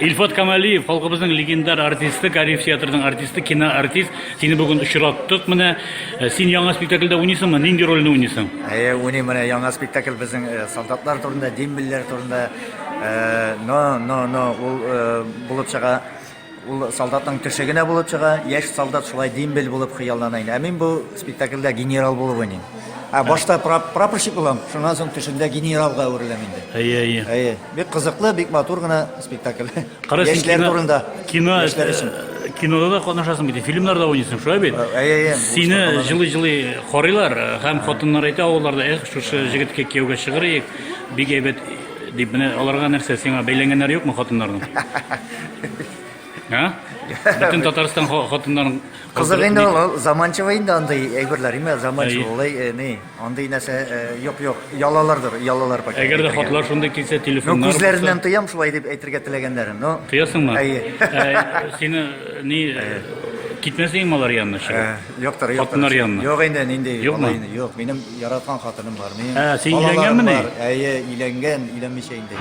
Илфат Камалиев, халкыбызның легендар артисты, Кариев театрының артисты, киноартист. Сине бүген очраттык менә. Э, син яңа спектакльдә уйныйсыңмы? Нинди рольне уйныйсың? Әйе, уйныйм менә яңа спектакль безнең э, солдатлар турында, дембельләр турында. Э, но, но, но, ул булып чыга Ул солдатның төше генә булып чыга, яшь солдат шулай дембель булып хыяллана инде. Ә мин бу спектакльдә генерал булып уйныйм. Ә башта прапорщик булам, шуннан соң төшемдә генералга әвереләм инде. Әйе, әйе. Әйе, бик кызыклы, бик матур гына спектакль. Кара, син Яшьләр кино- турында. Кино, Яшьләр өчен. э, кинода да катнашасың бит, фильмнарда уйныйсың, шулай бит? Ә, әйе, әйе, бу Сине катнашам. җылый-җылый карыйлар э, һәм хатыннар әйтә авылларда, эх, шушы җегеткә кияүгә чыгарыйк, бик әйбәт Дип, менә аларга нәрсә, сиңа бәйләнгәннәре юкмы хатыннарның? Ә? Бөтен Татарстан ха- хатыннарын Кызык инде ул, ул заманча инде андый әйберләр, име Әй. заманча ул, э, ни, андый нәрсә, э, юк, юк, ялалардыр, ялалар пакет. Әгәр дә әйтергә. хатлар шундый килсә, Ну, телефоннар күзләреннән тоям шулай дип әйтергә теләгәннәрен, но... Тоясыңмы? Әйе. Ә, Сине ни китмәсеңме алар янына чыгып? Ә. Юктыр, юктыр. Хатыннар янына. Юк инде, нинди Юкмы? бала инде. Юк, минем яраткан хатыным бар. Минем Ә, син балаларым өйләнгәнмени? бар. Әйе, өйләнгән, өйләнмичә инде.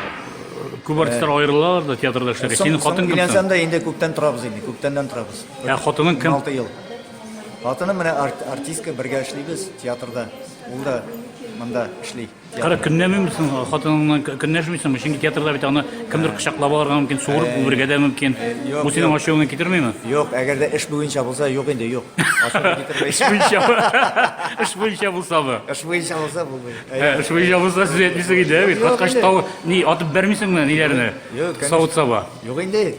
Күп артистлар аерылалар да театрда эшләргә. Соң- Синең соң хатын кем? Өйләнсәм соң? дә инде күптән торабыз инде, күптәннән торабыз. Ә хатының кем? 16 ел. Хатыным менә арт- артистка, бергә эшлибез театрда. Ул да монда эшли. Кара, көнләмим соң, хатыныңнан көнләшмисеңме? Чөнки театрда бит аны кемдер кочаклап алырга мөмкин, суырып үбергә дә мөмкин. Бу синең ачуыңны китермиме? Юк, әгәр дә эш буенча булса, юк инде, юк. Ачуны китермәй. Эш буенча. Эш буенча булса бы. Эш буенча булса булмый. Эш буенча булса сүз әйтмисең иде, бит. Каткач тау ни атып бәрмисеңме ниләрне? Савыт-саба. Юк инде.